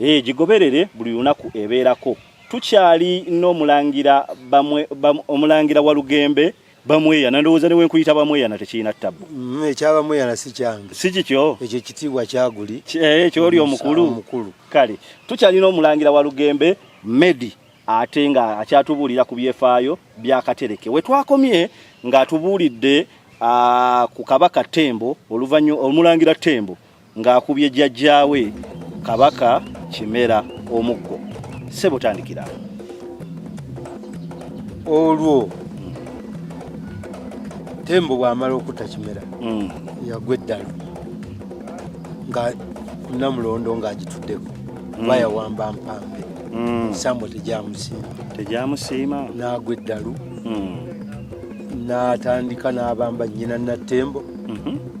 Ee, gigoberere buli lunaku ebeerako. Tukyali n'omulangira bamwe, bam, omulangira Walugembe bamweyana ndowooza ne wenkuyita bamweyana tekirina ttabu mm, ekya bamweyana si kyange si kikyo ekyo ekitiibwa kyaguli eh, ekyo oli omukulu omukulu kale tukyalina omulangira wa lugembe medi ate nga akyatubuulira ku byefaayo byakatereke we twakomye ng'atubuulidde ah, ku kabaka tembo oluvannyuma omulangira tembo ng'akubye jjajjaawe kabaka kimera omuggo sebo tandikira olwo tembo bwamala okutta kimera mm. yagwa eddalu nga namulondo ng'agituddeko mm. bayawamba mpambe mm. sambo tegyamusiima tegyamusiima n'agwa eddalu n'atandika n'abamba nnyina nattembo mm-hmm.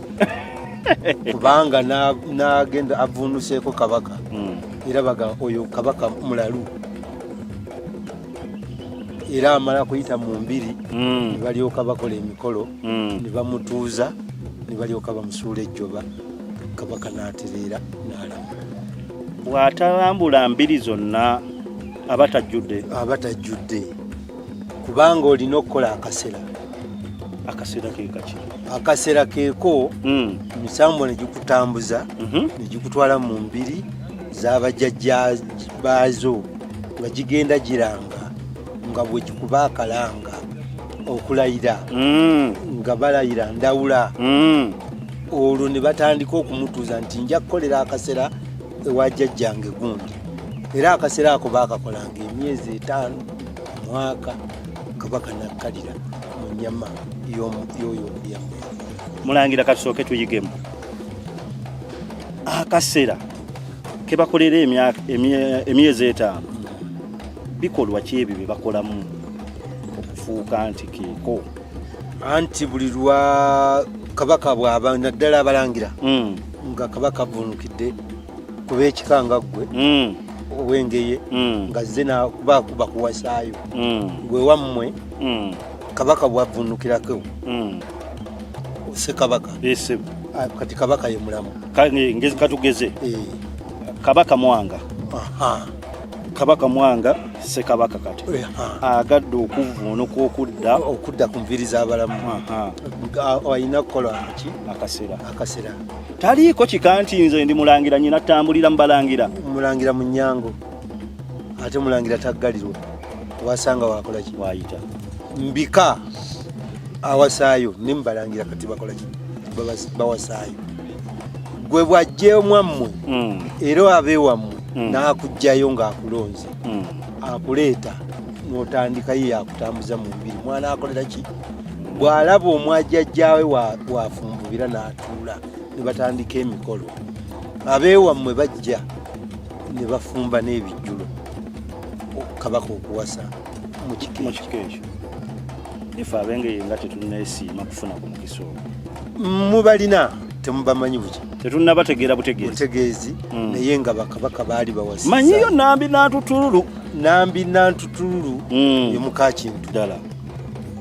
kubanga nagenda avunuseeko kabaka hmm. era baga oyo kabaka mulalu era amala kuyita mu mbiri hmm. nebalyoka bakola emikolo hmm. nebamutuuza nebalyoka bamusuula ejjoba kabaka natereera nalama bwatalambula mbiri zonna abatajjudde abatajjudde kubanga olina okukola akasera akasera kekaki akasera keeko hmm. emisambo negikutambuza mhm. negikutwala mu mbiri zabajajja baazo nga gigenda giranga nga bwegikuba akalanga okulayira hmm. nga balayira ndawula hmm. olwo ne batandika okumutuuza nti nja kukolera akasera ewa jajjange gundi era akasera ako baakakolanga emyezi etaano mwaka kabaka nakkalira mu nyama yoyo omuyambe mulangira katusooke tuyigemu akasera kebakolera emyezi etaano bikolwa ki ebyo byebakolamu okufuuka nti keeko anti buli lwa kabaka bwaba naddala abalangira hmm. nga kabaka avunukidde kuba ekika nga ggwe mm. owengeye mm. nga zze nakubakuba kuwasaayo mm. gwe wammwe kabaka bwavunukirako ose kabaka ah, kati kabaka ye mulamu ngezi katugeze eh. kabaka mwanga kabaka mwanga sekabaka kati eh, agadde okuvuunuka okudda okudda ku nviri z'abalamu alina kukola ki akasera akasera taliiko kika nti nze ndi mulangira nyina tambulira mubalangira mulangira munyango ate mulangira taggalirwa wasanga wakolaki wayita mbika awasaayo ne mubalangira kati bakolaki bawasaayo gwe bwajja omwammwe hmm. era abe wammwe hmm. n'akugjayo ng'akulonze hmm. akuleeta n'otandikayo yakutambuza mu mubiri mwana akolera ki bw'alaba omwajajjaawe wafumbubira n'at tuula ne batandika emikolo abeewammwe bajja ne bafumba n'ebijjulo kabaka okuwasa mu kika ekyo ife abengeye nga tetunnesiima kufuna ku mukisa ogwo mubalina temubamanyi buki tetunnabategeera butegeezibutegeezi hmm. naye nga bakabaka baali bawasa manyiyo nambi nantutululu nambi nantutululu hmm. yomukakintu ddala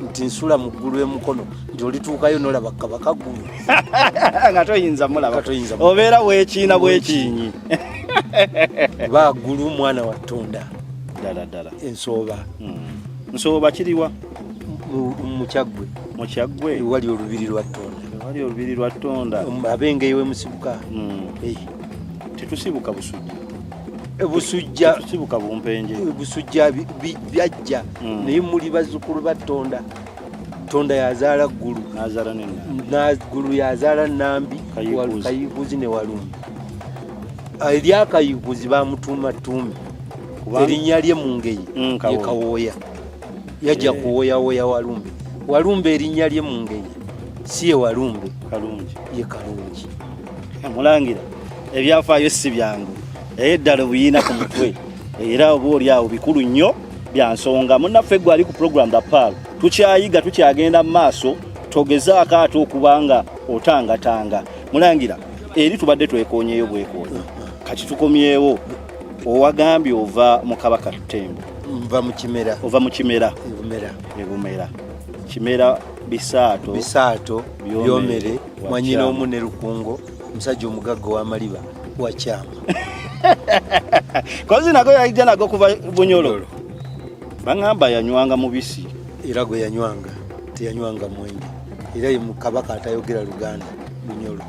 nti nsula mu ggulu emukono nti olituukayo nolaba kabaka ggulu nga toyinza mulaba obeera wekiina bwekiinyi ba ggulu mwana wa ttonda ddala ddala ensooba hmm. nsooba kiriwa mukyaggwe mukyaggwe wali olubiri lwa ttonda wali olubiri lwa ttonda abengeyo wemusibuka hmm. tetusibuka busujja busujja kibuka bumpenje busujja byajja mm. naye muli bazzukulu ba tonda tonda yazaala ggulu ggulu yazaala nambi kayiguzi ne walumbi eryakayiguzi bamutuuma tuumi erinnya lye mu ngeyi mm, yekawooya yajja eh. kuwoyawoya walumbe walumbe erinnya lye mu ngeyi si ye walumbe ye kalungi Mulangira ebyafaayo si byangu naye ddala obuyiina ku mutwe era oba oli awo bikulu nnyo bya nsonga munnaffe gwe ali ku program the pal tukyayiga tukyagenda mu maaso togezaako ate okuba nga otangatanga mulangira eri tubadde twekonyeyo bwekoonyi kati tukomyewo owagambye ova mu kabaka tutembo nva mu kimera ova mu kimera ebumera ebumera kimera bisaato bisaato byomere mwanyina omu ne lukungo omusajja omugagga wamaliba wakyama kozi nago yaija nago kuva bunyololo baŋamba yanywanga mubisi era gwe yanywanga teyanywanga mwenge era ye mukabaka atayogera luganda bunyolo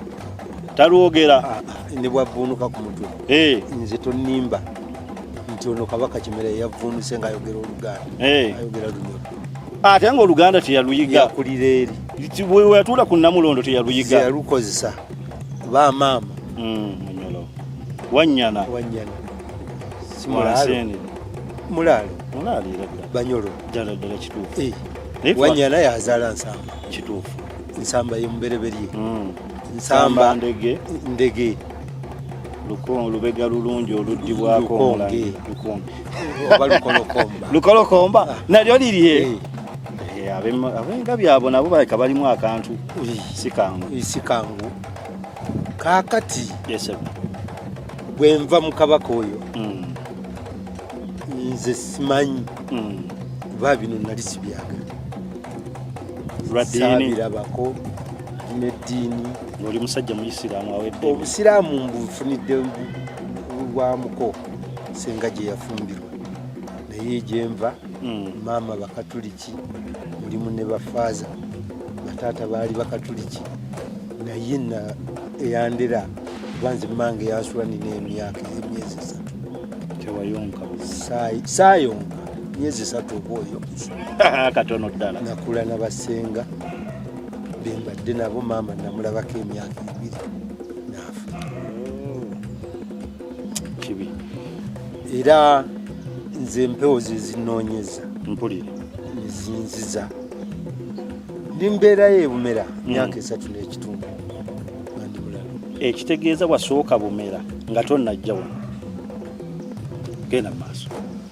talwogera ah, ah, ne bwavvuunuka ku mutwe eh. nze tonimba nti ono kabaka kimera yeyavvuunuse ngaayogera oluganda eh. ayogera lunyolo ate nga oluganda teyaluyiga yakulira eri weyatuula ku namulondo teyaluyiga yalukozesa bamaama hmm, munyolo wanyana wanyana simulaalo mulaalo mulaalo era banyolo ddala ddala kituufu eh, wanyana yazaala nsamba kituufu nsamba yemubereberye hmm. nsamba ndege ndege lubega lulungi oluddibwako lukonge oba lukolokomba lukolokomba ah. nalyo lirye eh. Eh, abenga byabo nabo baleka balimu akantu sikangu sikangu kakati bwenva mukabaka oyo hmm. nze simanyi hmm. kuba bino nali sibyagala sabirabako neddiini oli musajja muyisiraamu awedde obusiraamu mbufunidde bwa muko senga gye yafumbirwa naye gyenva hmm. maama bakatuliki mulimu ne bafaaza bataata baali bakatuliki naye na eyandera kuba nze mange yasula nina emyaka emyezi esatu tewayonka saayonka myezi esatu oba oyo katono ddala nakula na basenga bembadde nabo maama namulabako emyaka ebiri kibi era nze empewo zezinoonyeza mpulire ezinziza ndi mbeerayo ebumera mm. myaka esatu n'ekitundu ekitegeeza wasooka bumera nga tonajja wano genda mu maaso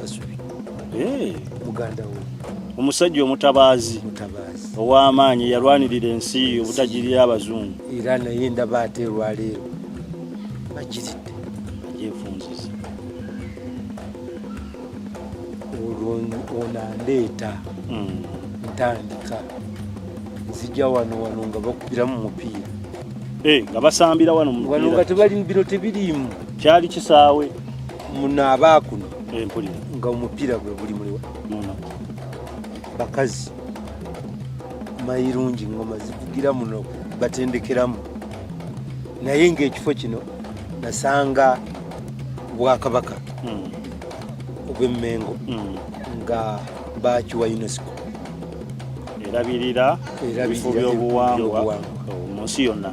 kasubi eh. muganda wo omusajja omutabaazi ow'amaanyi yalwanirira ensi obutagirira abazungu era naye ndaba ate olwaleero bagiridde agyefunziza olwo onandeeta hmm. ntandika nzija wano wano nga bakubiramu mupiira eh, nga basambira wano wano nga tebali bino tebiriimu kyali kisaawe munaaba kuno nga omupiira gwe guli muliwa bakazi mayirungi ngoma zivugira muno batendekeramu naye ngaekifo kino nasanga bwakabaka hmm. obwemmengo hmm. nga bakiwa unesco erabirira ebifo by'obuwangwa mu nsi yonna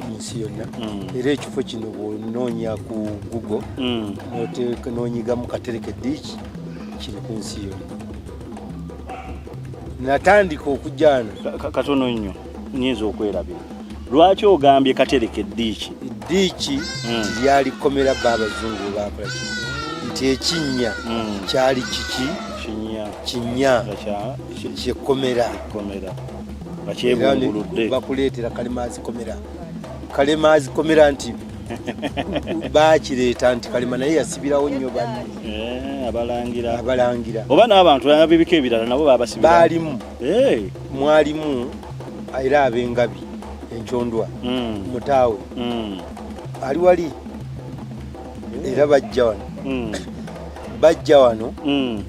mm. era ekifo kino bwonoonya ku google mm. nonyigamu katereke diiki kiri ku nsi yonna natandika okujana katono nnyo nyinza okwerabira lwaki ogambye katereke diiki diiki mm. lyali komera babazungu bakola nti ekinnya kyali kiki kinya kyekomera komera nga kyebunguludde bakuleetera kalemaazi komera kalemaazi komera nti bakireeta nti kalema naye yasibirawo nnyo banne eh, abalangira abalangira oba n'abantu abibiko ebirala nabo babasibira baalimu eh. mwalimu era abengabi enkyondwa hmm. mutaawe hmm. ali wali era bajja wano hmm. bajja wano mm.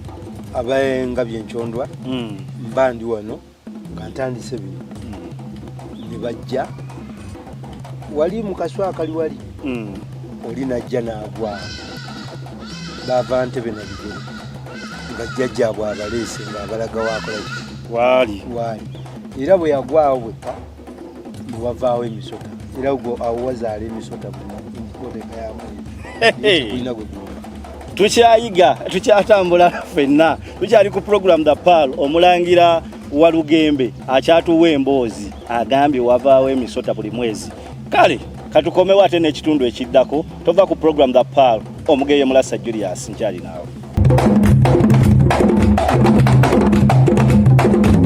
abaenga byenkyondwa mm. mba ndi wano nga ntandise bino mm. ne bajja wali mukaswa akali wali mm. oli najja naagwa bava ntebe nabigere nga jjajjaabwe abaleese nga abalagawo akolaki waali waali era bwe yagwawo bwekka wavaawo emisota era gwo awo wazaala emisota mukoteeka yamuina gwe tukyayiga tukyatambula fenna tukyali ku program the pal omulangira walugembe akyatuwa emboozi agambye wavaawo emisota buli mwezi kale katukomewo ate n'ekitundu ekiddako tova ku program the pal omugeye mulasa julius nkyali naawe